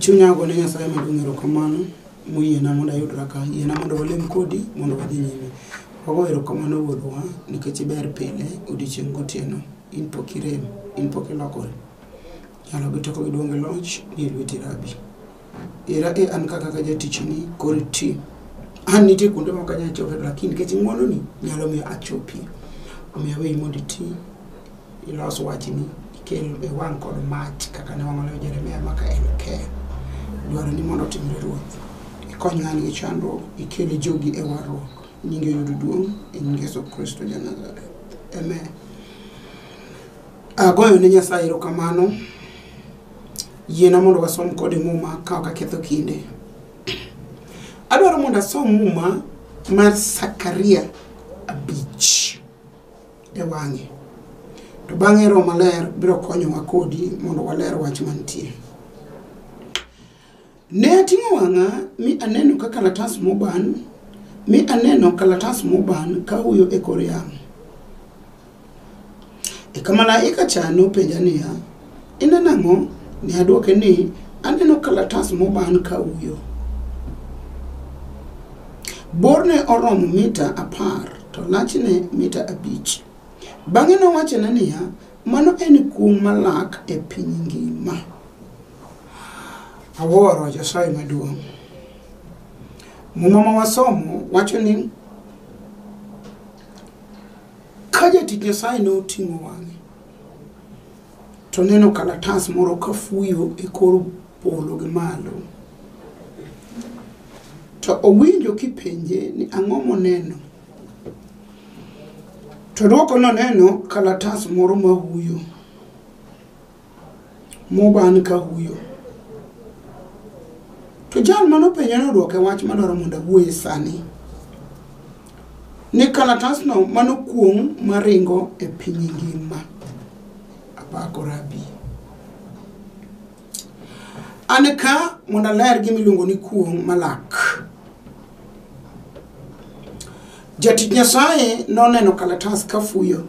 Chunya ogone Nyasaye maduong' erokamano moyiena mondo ayudra ka. Yiena mondo walem kodi mondo wadhi nyime. Wago erokamano wuonwa nikech iber pile odiechieng' gotieno. In pok irem, in pok ilokori. Nyalo gi teko gi duong' gi loch ni e lweti Rabi. Era e an ka kaka jatichni koro iti. An nitie kuonde ma ok anyal chope lakini nikech ng'wononi nyalo miyo achopie. Omiyo aweyi mondo iti. ilos wachni ikel e wang' kod mach kaka ne wang'olewo Jeremia maka en ke dwaro ni mondo otimre ruoth ikony ng'ani gi chandruok ikel jogi e warruok nyinge yud duong' e nying Yesu Kristo ja Nazareth amen agoyo ne Nyasaye erokamano yiena mondo wasom kode muma ka ok aketho kinde adwaro mondo asom muma mar Sakaria abich e wang'e. To bang'e Roho Maler biro konyowa kodi mondo waler wach mantie. Ne ating'o wang'a mi aneno ka kalatas moban, mi aneno kalatas moban ka huyo e kor yamo. Eka malaika cha nopenja niya, Ineno ang'o? Ne adwoke ni, Aneno kalatas moban ka uyo. Borne oromo mita apar, to lachne mita abich. Bang'e nowachona niya, Mano en kum malak e piny ngima. Awuoro Nyasaye maduong'. Muma ma wasomo wacho ni ka jatich Nyasaye ne oting'o wang'e to neno kalatas moro ka fuyo e kor polo gi malo. To owinjo kipenje ni ang'o moneno. To dwoko noneno kalatas moro ma huyo. Mo ba an ka huyo. To jal mane openja ne odwoke wach madwaro mondo awuoye sani. Ni kalatasno mano kuong' maringo e piny ngima. Apako rabi. An ka mondo aler gima iluongo ni kuong' malak. Jatich Nyasaye noneno kalatas ka fuyo.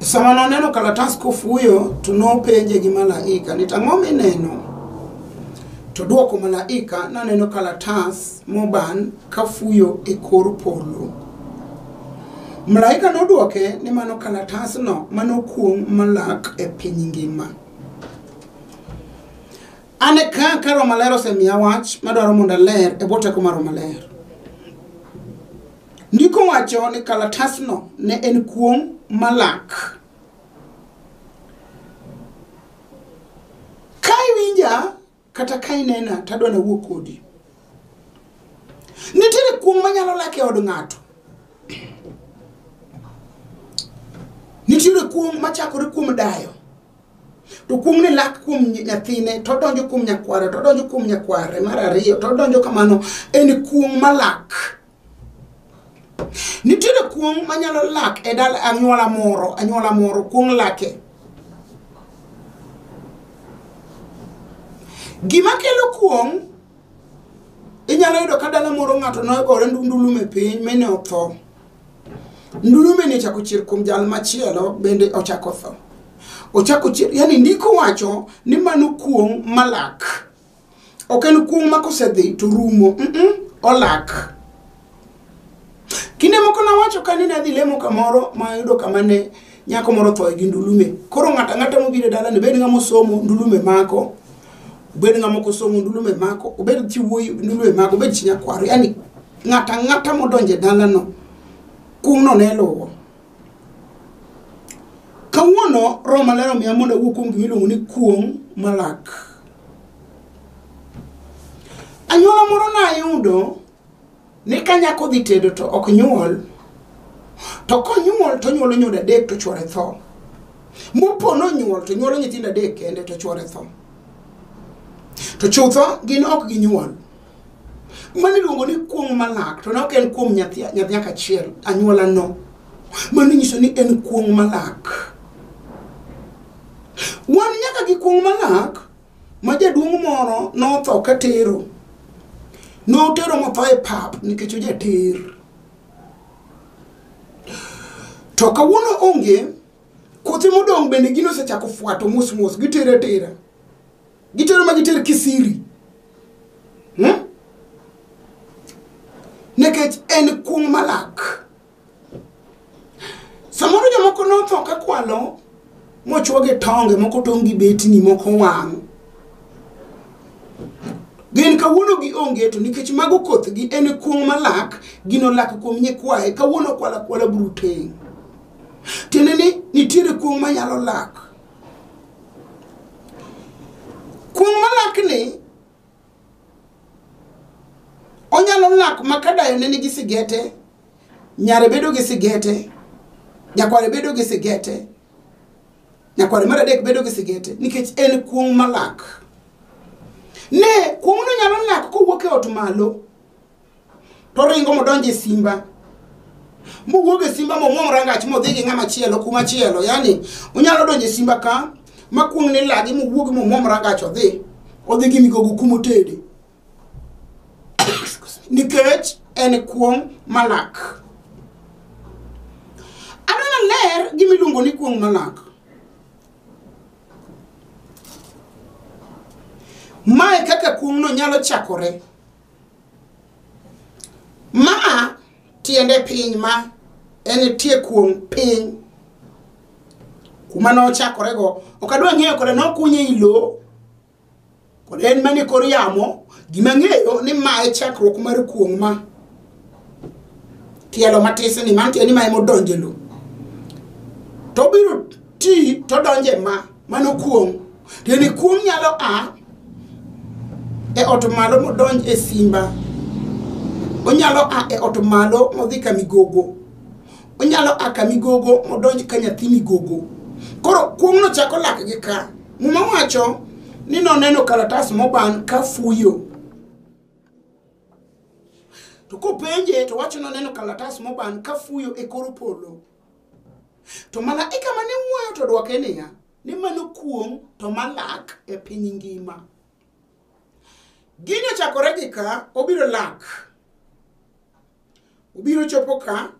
Sama noneno kalatas kofuyo, to nopenje gi malaika ni tang'o mineno? To dwoko malaika naneno kalatas moban kafuyo e kor polo. Malaika nodwoke ni mano kalatasno manokuong' malak e piny ngima. An e ka ka Roho Maler osemiya wach madwaro mondo aler e bwo teko mar Roho Maler. Ndiko wacho ni kalatasno ne en kuong' malak. Ka iwinja kata ka inena to adwa nawuo kodi. Nitiere kuong' manyalo lak e od ng'ato. Nitiere kuong' machakore kuom dayo. To kuong' ni lak kuom nyathine to odonjo kuom nyakware to odonjo kuom nyakware mar ariyo to odonjo kamano en kuong' malak. nitiere kuong' manyalo lak e dal anyuola moro anyuola moro kuong' lake gima kelo kuong' inyalo yudo ka dala moro ng'ato nogore ndundulume piny mine otho ndulume ni ochako chier kuom jal machielo bende ochako tho ochako chier yani ndiko wacho ni mano kuong' malak ok en kuong' ma kosedhi to rumo mm -mm, olak kinde moko nawacho ka ni nadhi lemo kamoro ma yudo kama ne nyako moro thoe gi ndulume koro ng'ato ang'ata mobiro e dalani bed ng'ama osomo ndulume mako obed ng'ama ok osomo ndulume mako obed chi wuoyi ndulume mako obed chi nyakwaro yani ng'ato ang'ata modonjo e dalano kumno ne luwo kawuono roho maler omiya mondo awuo kuom gima iluongo ni kuong' malak Anyuola moro nayudo ni ka nyako dhi tedo to ok nyuol to konyuol to nyuolo nyodo adek to chwore tho mopo nonyuol to nyuolo nyithindo adek kende to chwore tho to chutho gin ok ginyuol Mano iluongo ni kuong' malak, to ne ok en kuom nyathi nyathi nyaka achiel, anyuolano. Mano inyiso ni en kuong' malak. Wan nyaka gi kuong' malak ma jaduong' moro notho ka tero. Notero motho e pap nikech ojater. To kawuono onge, kothe modong' bende gino osechako fwato mos mos, gitero atera. gitero ma giter kisiri hmm? nikech en kuong' malak samoro jomoko notho ka kwalo mochwoge tonge moko tong' gi betni moko wang' gin kawuono gi onge to nikech mago kothgi en kuong' malak gino lak kuom nyikwaye kawuono kwala kwala bruteng' tiende ni nitiere kuong' manyalo lak Kuong' malakni onyalo lak ma ka dayo ne nigi sigete, nyare bedo gi sigete, nyakware bedo gi sigete, nyakware mar adek bedo gi sigete nikech en kuong' malak. Ne kuong'no nyalo lak kowuok e ot malo to oringo modonjo e simba mowuog e simba momwom rangach modhi gi ng'ama chielo kuma chielo yani onyalo donjo e simba ka makuong ni lagi mowuog momwom rangach odhi odhi gi migogo kuma otede nikech en kuong' malak aneno ler gima iluongo ni kuong' malak mae kaka kuong'no nyalo chakore Ma tiende piny ma en tie kuom piny kuma nochakorego ok adwa ng'eyo kode nokunye i lo kod en mane kor yamo gima ng'eyo ni ma e chakruok mar kuong' ma tielo matis ni mantie ni ma emodonje lo tobiro ti todonje ma mano kuong' tiende ni kuong' nyalo a e ot malo modonj e simba onyalo a e ot malo modhi ka migogo onyalo a ka migogo modonj ka nyathi migogo koro kuong' nochako lak gi ka muma wacho ni noneno kalatas moban ka fuyo to kopenje to wacho noneno kalatas moban ka fuyo e kor polo To malaika mane wuoyo to dwoke niya, ni mano kuong' to malak e piny ngima. Gini ochakore gi ka, obiro lak. Obiro chopo ka,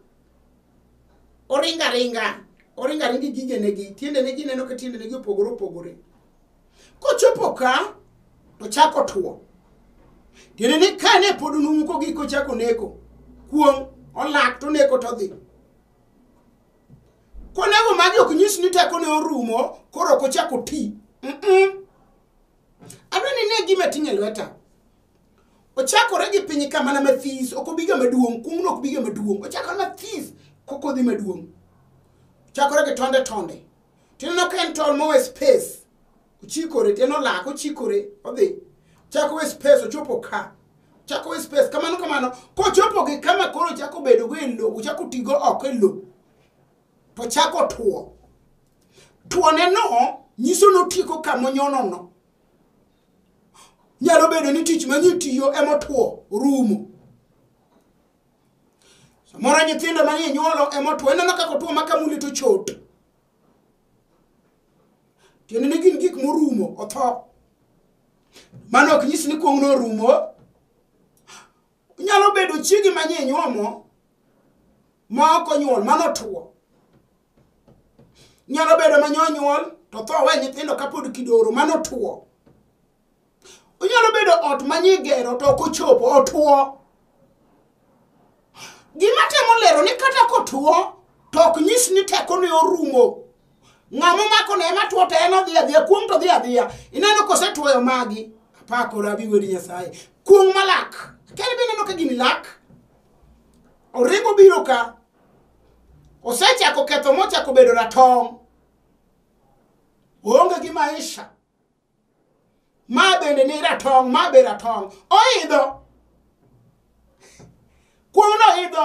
oringa ringa, oringa ringi gige negi, tiende negi ineno ka tiende negi opogore opogore. Kochopo ka, to chako tuo. Tiende ni ka ne pod numu ko giko chako neko, kuong' olak to neko to dhi. Konego magi ok nyis ni teko ne orumo, koro ok ochako ti. Mm-mm. Adwa ni ne gima tinye lweta. Ochakore gi piny ka mana mathis, ok obiga maduong', kuong'no ok biga maduong', ochakore mathis kokodhi maduong'. Chakore gi tonde tonde. tineno ka en tol mowe space ochikore tiende olak ochikore odhi chako we space ochopo ka chako we space kamano kamano kochopo gi kama koro chako bedo go e lo ochako tigo oko e lo to chako tuo tuone no nyiso notieko kamonyono no nyalo bedo ni tich manyi tiyo emotuo rumo Samoro nyithindo mane inyuolo ema otuo, ineno kaka otuo ma kamuli to chot. Tiende ni gin gik morumo, otho. Mano ok nyis ni kuong'no orumo. Nyalo bedo chiegi manye inyuomo ma ok onyuol, mano otuo. Nyalo bedo manye onyuol to tho we nyithindo kapod kidoro, mano otuo. onyalo bedo ot ma nyigero to ok ochopo otuo gima temo lero ni kata kotuo to ok nyis ni teko ne orumo ng'ama omako ne ema tuo to en odhi adhiya kuong' to dhi adhiya ineno kosetuoyo magi apakora abi wedi nyasaye kuong' malak kene be ineno ka gini lak oringo biro ka osechako ketho mochako bedo ratong' oonge gi maisha ma bende ni ratong' ma be ratong' oidho kuong'no oidho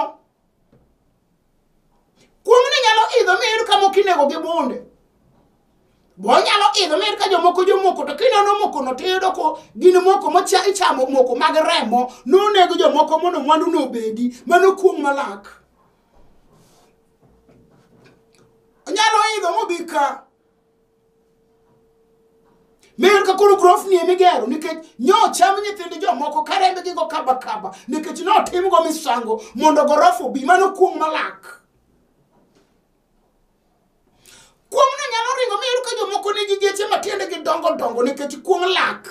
kuong'no nyalo idho miyud ka moko inego gi bunde bonyalo idho miyud ka jomoko jomoko to kinono mokono tiyudo ko gin moko mocha ichamo moko mag remo nonego jomoko mondo mwandu nobedi mano kuong' malak onyalo idho mobi ka Miyo ka koro grofni ema igero nikech nyocham nyithind jomoko ka rembgi go kaba kaba nikech notimgo misango mondo gorofa obi mano kuong' malak. Kuong'no nyalo ringo miyudo ka jomoko nigi geche matiendegi dongo dongo nikech kuong' lak.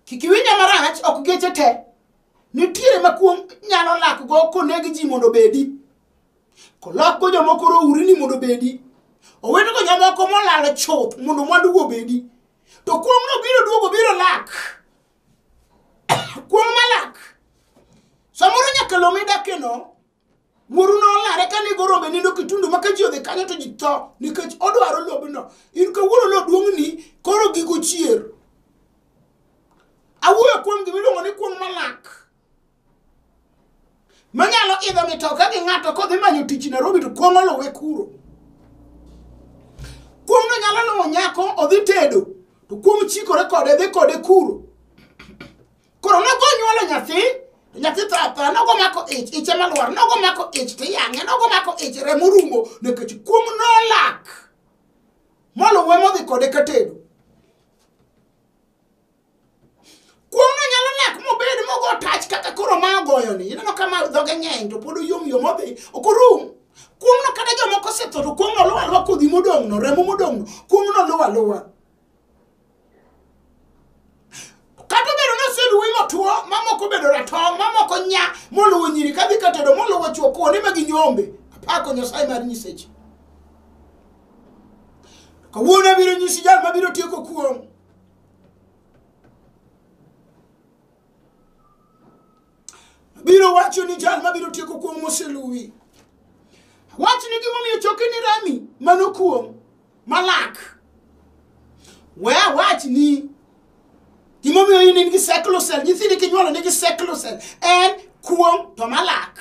Kik iwinja marach ok geche te nitiere ma kuong' nyalo lakgo koneg ji mondo obedi. kolakgo jomoko rouri ni mondo obedi owetego jomoko molal chuth mondo mwandugo obedi to kuong'no biro duogo biro lak kuong' malak samoro nyaka lo midakeno wuoru nolare ka nigo rombe nindo kitundu ma ka ji odhi kanyo to ji tho nikech odwaro lobno in kawuono lo duong'ni koro gigo chier awuoyo kuom gimiluongo ni kuong' malak manyalo idho mitoka gi ng'ato kodhi manyo tich Nairobi to kuong' oluwe kuro. Kuong' no nyalo luwo nyako odhi tedo to kuong' chikore kode dhi kode kuro. Koro nogo nyuolo nyathi to nyathi tho athoya nogo mako ich ich ema lwar nogo mako ich to iyang'e nogo mako ich remo rumo nikech kuong' nolak moluwe modhi kode ka tedo. Kuong'no nyalo nyak mobed mogo tach kaka koro ma ogoyoni. Ineno ka ma dhoge ng'eny to pod oyom yom odhi ok orum. Kuong'no kata jomoko osetho to kuong'no luwo aluwa kodhi modong'no, remo modong'no, kuong'no luwo aluwa. Kata obedo ni oseluwi motwo, mamoko obedo ratong', mamoko nya, moluwo nyiri kadhi katedo, moluwo chwo kuonde ma ginyombe. Apako Nyasaye mar nyiseche. Kawuono abiro nyisi jal mabiro tieko kuong'. biro wacho ni jal mabiro tieko kuom moseluwi wach ni gimomiyo choke ni rami mano kuom malak we awach ni gimomiyo in in gi seclosel nyithindi kinyuolo nigi seclosel en kuom to malak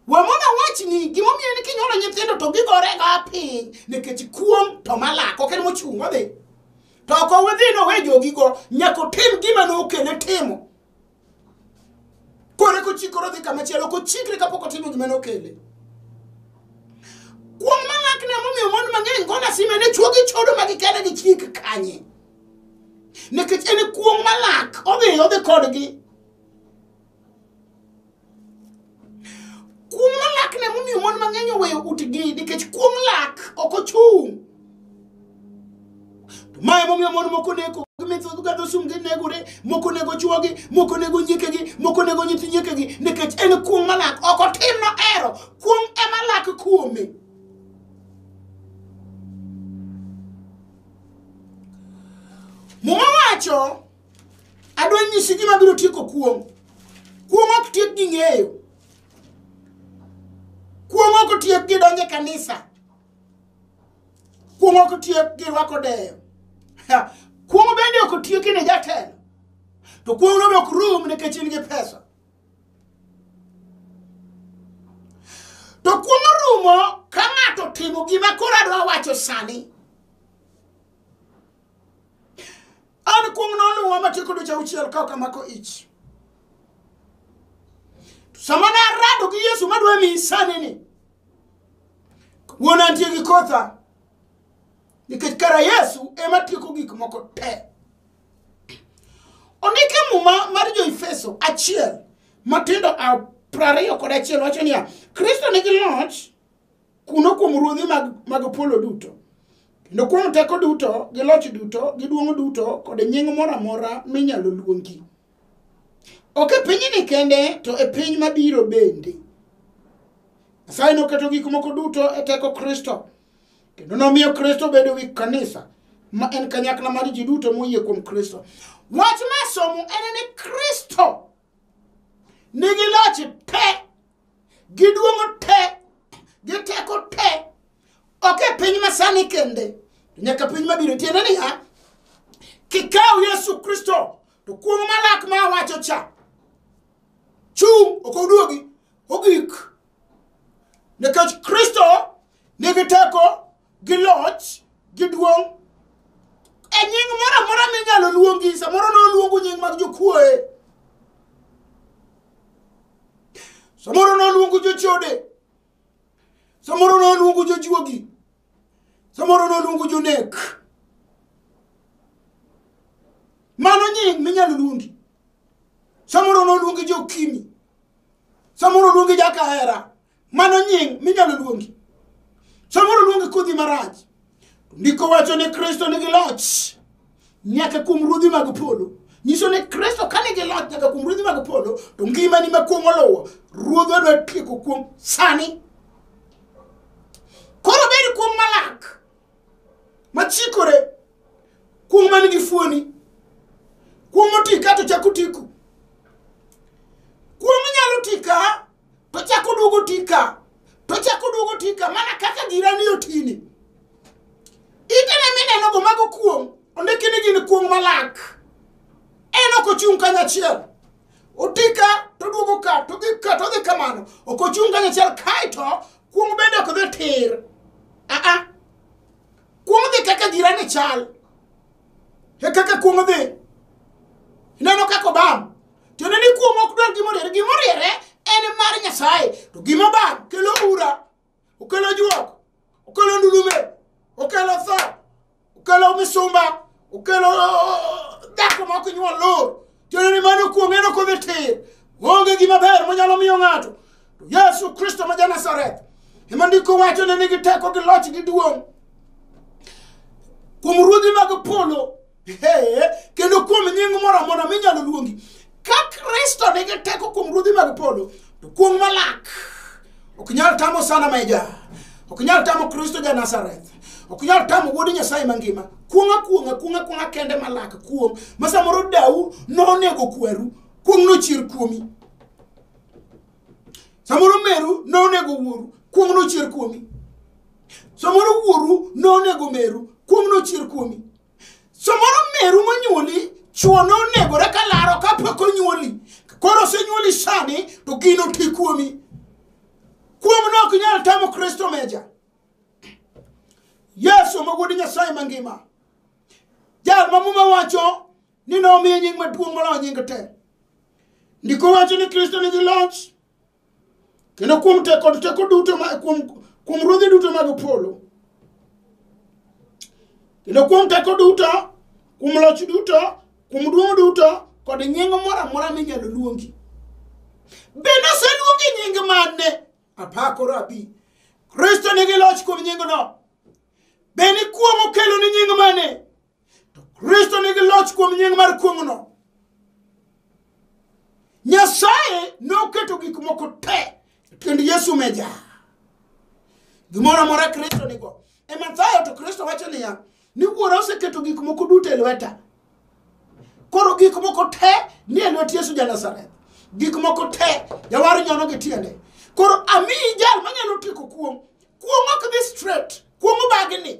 wamona wachni gimomiyo ni kinyuolo nyithindo to gigorega piny nikech kuom to malako ok en mochung' wadhi to ok owidhi nowe jogigo nyaka otim gima nokele timo kore kochikore odhi kamachielo kochikre kapok otimo gima nokele kuom malakne momiyo mon mang'eny go lasime ne chuo gi chodo ma gikele gi chik kanye nikech en kuong' malak odhi odhi kodgi Kuong'o lak ne momiyo mon mang'eny oweyo utgi nikech kuong' lak ok ochung'. To ma emomiyo mon moko neko gimethodhgadho sum ginegore moko nego chuogi moko nego nyiekegi moko nego nyithi nyiekegi nikech en kuong' malak ok otim no ero kuong' ema lak kuome muma wacho adwa nyisi gima biro tieko kuong' kuong' ok tiek gi ng'eyo kuong' ok tiek gi donje kanisa kuong' ok tiek gi rwako deyo kuong' bende ok tiek ne jatelo to kuong' no be ok rum nikech in gi pesa to kuong' rumo ka ng'ato timo gima koro adwa wacho sani An kuong' noluwa matieko dweche auchiel ka ok amako ich. To sama ne arado gi Yesu madwa miyi sani ni, wuon antie gi kotha, nikech kara Yesu ema tieko gik moko te. Ondike muma mar jo-Efeso achiel matindo a- prariyo kod achiel wacho niya, Kristo nigi loch kuno kuom ruodhi mag, mag polo duto kendo kuom teko duto gi loch duto gi duong' duto kod nying moro amora minyalo luongi ok e pinyni kende to e piny mabiro bende nyasaye noketo gik moko duto e teko kristo kendo nomiyo kristo bedo wi kanisa ma en kanyakla mar ji duto moyie kuom kristo wach ma somo en ni kristo nigi loch te gi duong' te gi teko te ok e piny masani kende nyaka piny mabiro tiende niya kikaw yesu kristo to kuong' malak ma awacho cha chung' ok oduogi ogik nikech kristo nigi teko gi loch gi duong' e nying moro amora minyalo luongi samoro noluongu nying mag jokuoye samoro noluongu jochode samoro noluongu jojuogi samoro noluongu jonek mano nying minyalo luongi samoro noluongi jokimi samoro luongi jakahera Mano nying minyalo luongi. Samoro luongi kodhi marach. Ndiko wacho ni Kristo nigi loch nyaka kuom ruodhi mag polo. Nyiso ni Kristo ka nigi loch nyaka kuom ruodhi mag polo, to ngimani ma kuong' oluwo, ruodhwa dwa tieko kuom sani. Koro bed kuong' malak, machikore, kuong' man gi fuoni, kuong' moti ka to chako tiku. Kuong' nyalo ti ka to chako oduogo ti ka to chako oduogo ti ka mana kaka jirani otini itene minenogo mago kuong' ondiki ni gin kuong' malak en ok ochung' kanyachiel oti ka to oduogo ka to dhi ka to dhi kamano ok ochung' kanyachiel kaeto kuong' bende ok dhi tir aa kuong' dhi kaka jirani chal e kaka kuong' dhi ineno kaka obam tiende ni kuom ok dwar gima oriere gima oriere en mar nyasaye to gima bang' kelo ura okelo juok okelo ndulume okelo tho okelo misumba okelo uh, dhako ma ok nyuol lor tiende ni mano kuom en ok odhi tir onge gima ber monyalo miyo ng'ato to yesu kristo ma janazareth ema ndiko wacho ne nigi teko gi loch gi duong' kuom ruodhi mag polo Ee, kendo kuom nying moro amora minyalo luongi ka kristo nigi teko kuom ruodhi mag polo to kuong' malak ok nyal tamo sana meja ok nyal tamo kristo ja nazareth ok nyal tamo wuod nyasaye mangima kuong'a kuong'a kuong'a kuong'a kende malak kuong' ma samoro dau nonego kweru kuong' nochier kuomi samoro meru nonego wuoru kuong' nochier kuomi samoro wuoru nonego meru kuong' nochier kuomi Samoro meru monyuoli chuo nonegore ka laro ka pok onyuoli koro osenyuoli sani to gino ti kuomi kuom ne ok nyal tamo kristo meja yesu mogudi nyasaye mangima jal ma muma wacho ni nomiye nying maduong' moloyo nying te ndiko wacho ni kristo nigi loch kendo kuom teko teko duto kuom kuom ruodhi duto mag polo kendo kuom teko duto kuom loch duto kuom duong' duto kod nying moro amora minyalo luongi bende oseluongi nying mane apakoro abi kristo nigi loch kuom nyingno bende kuong'o kelo ni nying mane to kristo nigi loch kuom nying mar kuong'no nyasaye noketo gik moko te e tiend yesu meja gimoro amora kristo nigo e mathayo to kristo wacho niya ni wuora oseketo gik moko duto e lweta koro gik moko te ni e lwet yesu ja nazareth gik moko te jawar nyono gi tiende koro amiyi jal manyalo tieko kuong' kuong' ok dhi straight kuong' obagni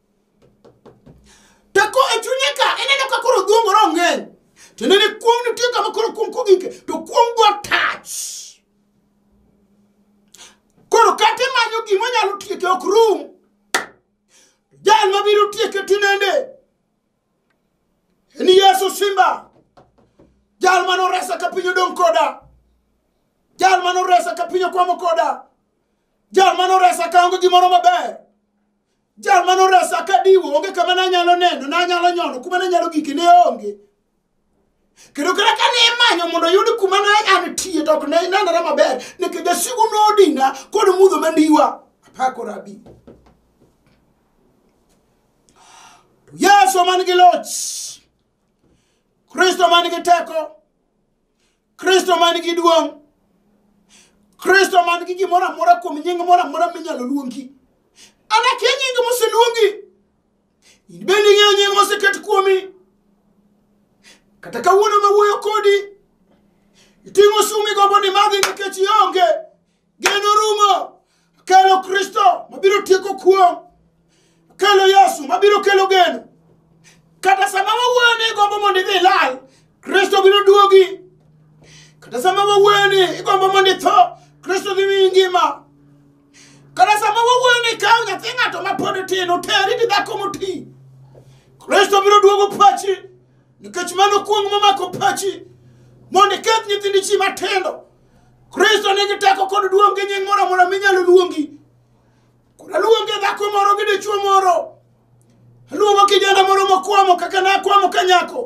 to ko e chunye ka ineno ka koro dhuongore ong'eny tiende ni kuom nitie kama koro kuom kogike to kuom go touch koro kata imanyo gima nyalo tieke ok rum jal mabiro tieke tinende en yesu simba jal mane oresa ka piny odong' koda jal mane oresa ka piny okwamo koda jal mane oresa ka onge gimoro maber jal mane oresa ka diwo onge kama nanyalo neno nanyalo nyono kuma nanyalo gike ne onge kendo kata ka ne imanyo mondo oyud kuma ne an tie to ok ne nenore maber nikech jasigu nodina kod mudho mandiwa apako rabi yesu man gi loch kristo man gi teko kristo man gi duong' kristo man gi gimoro amora kuom nying moro amora minyalo luongi an akia nying moseluongi in bende ing'eyo nying moseket kuomi kata kawuono mawuoyo kodi iting'o sumi gombo ni madhi nikech ionge Geno rumo kelo Kristo mabiro tieko kuom kelo Yesu mabiro kelo geno. Kata sama wawuoyo ni igombo mondo idhi lal, Kristo biro duogi. Kata sama wawuoyo ni igombo mondo itho, Kristo dhi miyi ngima. Kata sama wawuoyo ni kaw nyathi ng'ato ma pod tin oteri gi dhako moti, Kristo biro duogo pachi nikech mano kuong' momako pachi mondo iketh nyithindi chi matindo Kristo nigi teko kod duong' gi nying' moro amora minyalo luongi. Koro aluonge dhako moro gi dichwo moro. Aluongo kijana moro mokwamo kaka nakwamo ka nyako.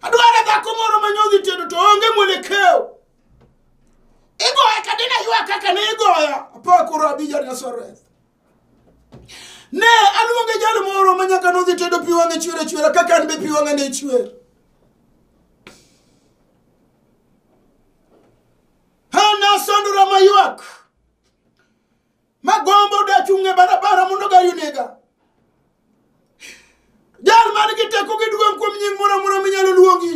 Adwaro dhako moro ma nyodhi tedo to onge mwelekeo. Igoya ka dina ywa kaka ne igoya. Apakoro abija Nazareth. Ne aluonge jal moro ma nyaka nodhi tedo pi wang'e chwer achwera kaka an be pi wang'a ne chwer. Hana sandora maywak magombo dachung' e barabara mondo gari onega. Jal man gi teko gi duong' kuom nying moro amora minyalo luongi.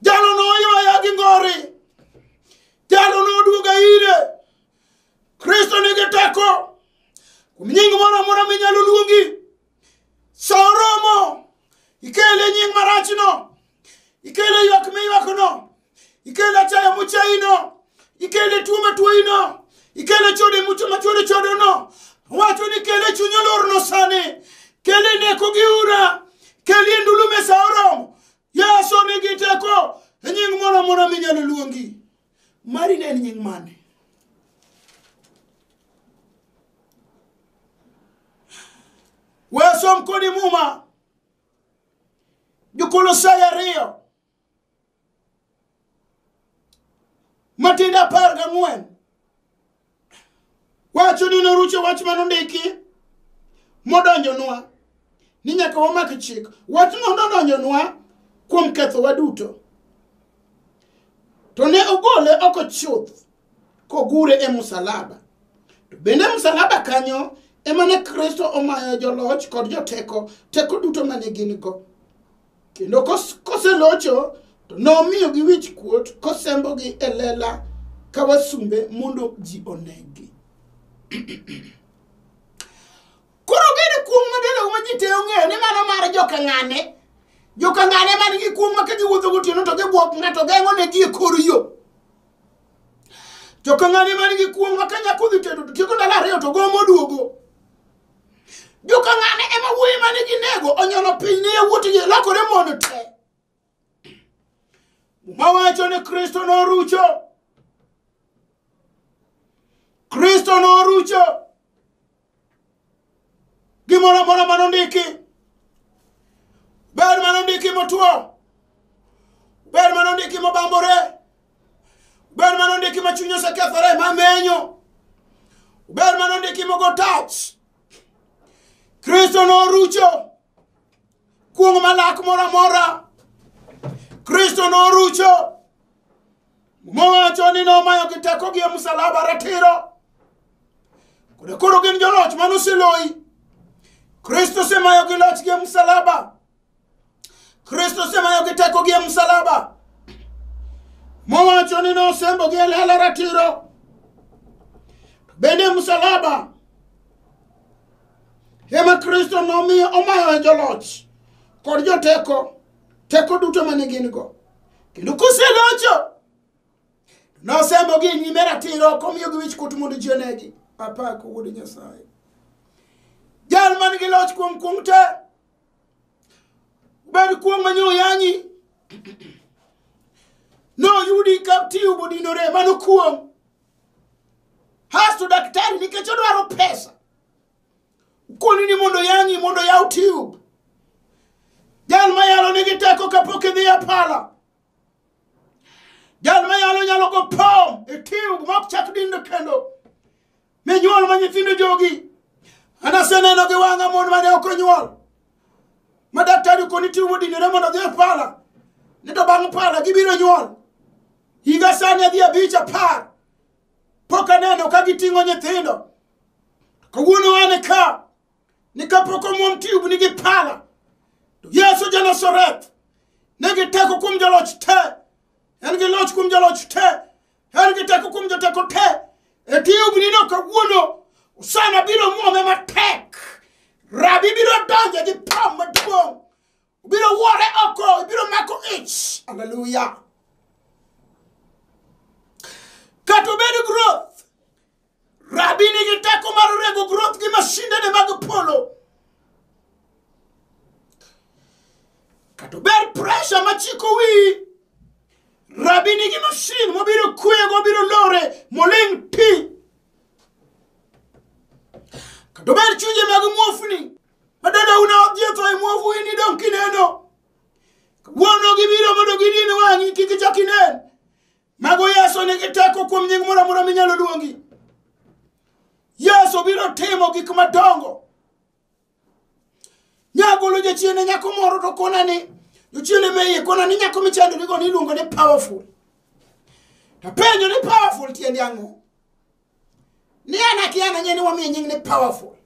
Jalo noywaya gi ngore. Jalo noduoga ire. kristo nigi teko kuom nying moro amora minyalo luongi sa oromo ikele nying marachno ikele ywak miywakno ikele achaya muchayino ikele tuo matuoyino ikele chode mucho machode chodono wacho ni kele chuny olorno sani kele neko gi ura kele e ndulu mesa oromo yesu nigi teko e nying moro amora minyalo luongi Mari ne en nying mane? We som kodi muma. Jokolosai ariyo. Matinde apar gang'wen. wacho ni norucho wach ma nondiki modonjonwa ni nyaka wamak chik wach no nodonjonwa kuom kethowa duto to ne ogole oko chuth kogure e musalaba to bende musalaba kanyo ema ne kristo omayo joloch kod joteko teko duto mane gin go kendo kos- koselocho to nomiyogi wich kuot kosembogi e lela ka wasumbe mondo ji onegi koro gene kuong' madondogo ma ji te ong'eyo ni mano mar jokang'ane jokang'ane man gi kuong' ma ka giwuotho gotieno to gibwok ng'ato geng'o ne gi e kor yo jokang'ane man gi kuong' ma ka nyako dhi tedo to tieko ndalo ariyo to gomo duogo joka ng'ane ema wuoyi mane ginego onyono piny ne yawuotgi lokore mondo te muma wacho ni kristo norucho kristo norucho gimoro amora mane ondiki ber mane ondiki motwo ber mane ondiki mobambore ber mane ondiki ma chuny osekethore ma menyo ber mane ondiki mogo touch kristo norucho kuong' malak moro amora kristo norucho mowacho ni nomayo gi teko gi e msalaba ratiro kod koro gin joloch mane oseloyi kristo osemayo gi loch gi e msalaba kristo osemayo gi teko gi e msalaba mowacho ni nosembo gi e lela ratiro bende msalaba ema kristo nomiyo omayo e joloch kod joteko teko duto mane gin go kendo koselocho nosembo gi e nyime ratiro komiyo gi wich kut mondo ji onegi apako wuod nyasaye jal man gi loch kuom kuong te Ber kuong' ma nyo yanyi. No yudi ka tiyo budinore mano kuong'. Hasto daktari nikech odwaro pesa. Koni ni mondo yanyi mondo yaw tube. Jal ma yalo nigi teko kapok idhi e pala. Jal ma yalo nyalo go pom e tube ma ok chak dindo kendo. minyuol ma nyithindo jogi anaseneno gi wang'a mon mane ok onyuol ma daktari koni tiyo modinore mondo odhi e pala ni to bang' pala gibiro nyuol higa sani adhi abich apar pok aneno ka giting'o nyithindo kawuono ane ka ni kapok omwom tube nigi pala to yesu janasareth nigi teko kuom jaloch te en gi loch kuom jaloch te En gi teko kuom joteko te. E tiyo ginino kawuono, Usana biro muome matek. Rabi biro donje gi pam maduong'. Biro wuore oko, biro mako ich. Hallelujah. Kata obedo growth, Rabi nigi teko mar rego groth gi mashindene mag polo. Kata ber presha machiko wiyi. Rabi nigi mashin mobiro kwego, obiro lore, moling' ti. Kata ber chunje mag muofni. Madada una odhi otho e muofu in idong' kineno. Wuono gibiro mondo gidin wang'i kik ichak inen. Mago Yesu nigi teko kuom nying moro amora minyalo luongi. Yesu biro timo gik madongo. Nyagolo jachiende nyako moro to kona ni jochiende me iye kona ni nyako michandorigo ni iluongo ni powerful. To penjo ni powerful tiende ang'o? Ni an akia na nyeni wamiye nying ni powerful.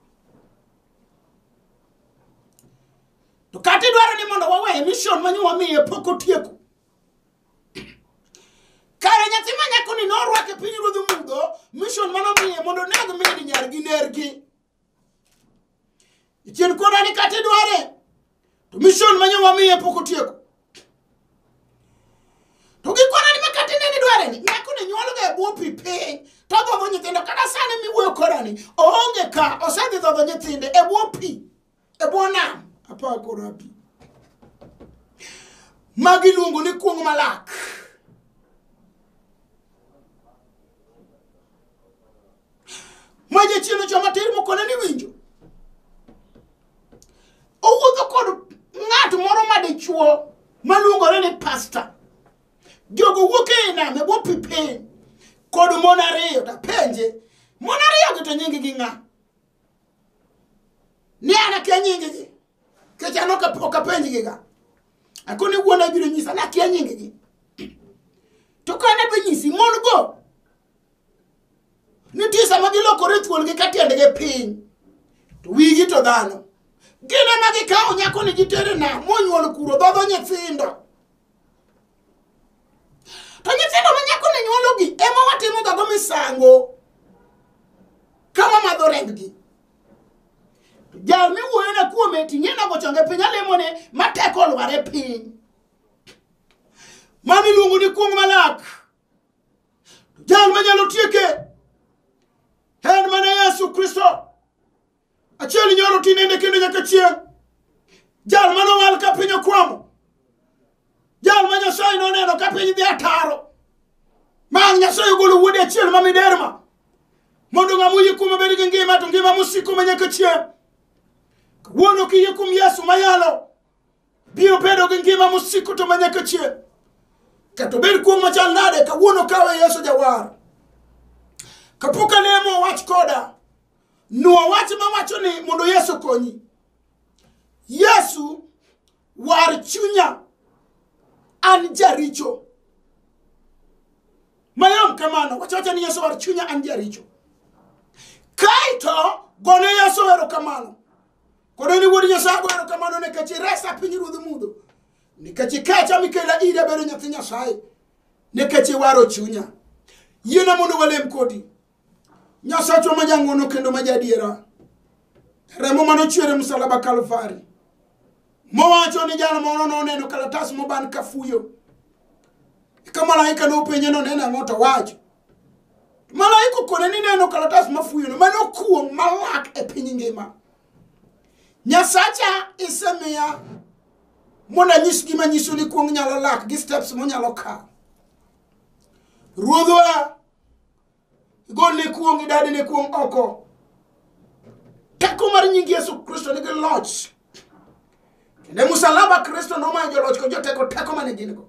To kata idwaro ni mondo waweye mission ma nyo wamiye pok otieko. kare nyathi ma nyakoni norwake piny ruodh mudho mission mano miye mondo neg min nyargi nergi ichien koda ni kata idware to mission ma nyowa miye pok otieko to gikona ni ma kata inene dware ni nyakoni nyuolga e bwo pi piny to dhodho nyithindo kata sani miwuoyo kodani oonge ka osedhi dhodho nyithinde e bwo pi e bwo nam apar kod abi ma giluongo ni kuong' malak ma jachielo joma tir mokone ni winjo owuotho kod ng'at moro ma dichuo maluongore ni pasta jogo wuok e nam e bwo pi piny kod mon ariyo tapenje mon ariyogi to nyinggi ng'a ni an akia nyinggi kech an ok ok apenjgiga akoni wuona ibiro nyisa ni akia nyinggi to ka ne benyisi mon go nitie sama gilokore thuolgi ka tiendgi piny to wigi to dhano gin ema gikawo nyakoni gitere nam monyuol kuro dhodho nyithindo To nyithindo ma nyako ne nyuologi ema watimo gago misango ka wamadho rembgi. Jal miwuoyone kuome ting'e nago chonge piny alemone ma teko olwar e piny. Mano iluongo ni kuong' malak. Jal manyalo tieke en mana Yesu Kristo. achiel inyoro tinende kendo nyaka chieng' jal mane owal ka piny okwamo jal ma nyasaye noneno ka piny dhi ataro ma ang' nyasaye ogolo wuode achiel ma miderma mondo ng'a moyie kuome bed gi ngima to ngima mosiko ma nyaka chieng' kawuono kiyie kuom yesu mayalo biro bedo gi ngima mosiko to ma nyaka chieng' kato bed kuom machal nade kawuono kawe yesu jawar kapok alemo wach koda Nuo wach ma wacho ni mondo Yesu konyi. Yesu war chunya an jaricho. Mayom kamano, wacho wacho ni Yesu war chunya an jaricho. Kaito gone Yesu erokamano. Kono ni wuod Nyasaye go erokamano nikech iresa piny ruodh mudho. Nikech ikecha mikela iri abedo nyathi Nyasaye. Nikech iwaro chunya. Yiena mondo walem kodi. nyasachwa ma jang'wono kendo ma jadiera remo mane ochwer e msalaba kalvari mowacho ni jal moro noneno kalatas moban ka fuyo eka malaika nopenje noneno ang'o to wacho malaika okone ni neno kalatas mafuyono mane okuong' malak e piny ngima nyasacha isemiya mondo anyis gima nyiso ni kuong' nyalo lak gi steps monyalo kawo ruodhwa golne kuong' idadine kuong' oko teko mar nying yesu kristo nigi loch kendo e musalaba kristo nomayo joloch kod joteko teko mane gin go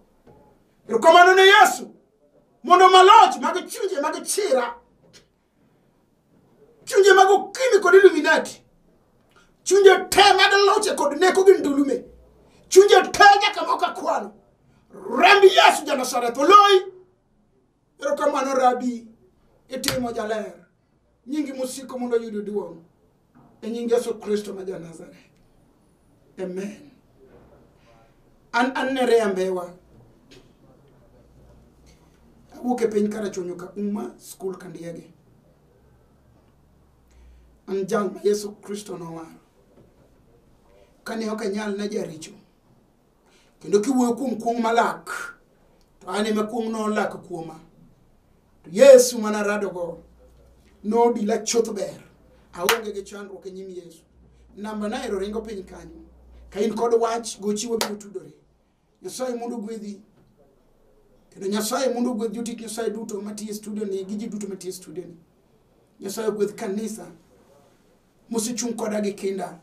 erokamano ne yesu mondo maloch mag chunje mag chira chunje mag okimi kod illuminati chunje te mag loche kod neko gi ndulume chunje te nyaka moko akwano remb yesu janasareth oloyi Erokamano rabi, itimo jaler. Nyingi mosiko mondo oyud duong'. E nying Yesu Kristo ma ja Nazareth. Amen. An an ne rembewa. Awuok e piny Karachuonyo ka Uma School Kandiege. An jal ma Yesu Kristo nowaro. Kane ok anyal ne jaricho. kendo kiwuoyo kuom kuong' malak to an ema kuong' nolak kuoma to yesu mana radogo nodila chuth ber aonge gi chandruok e nyim yesu namba naero ringo piny kanyo ka in kod wach gochiwo biro tudore nyasaye mondo gwedhi kendo nyasaye mondo ogwedh jotik nyasaye duto matiye studio ni gi ji duto matiye studio ni nyasaye ogwedh kanisa mosechung' koda gi kinda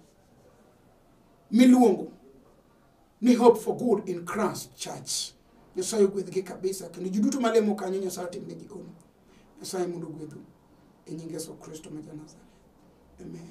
miluongo ni hope for good in Christ church nyasaye ogwedhgi kabisa kendo ji duto malemo kanyo nyasaye otimnegi ono nyasaye mondo ogwedhu e nying yesu kristo ma janazareth amen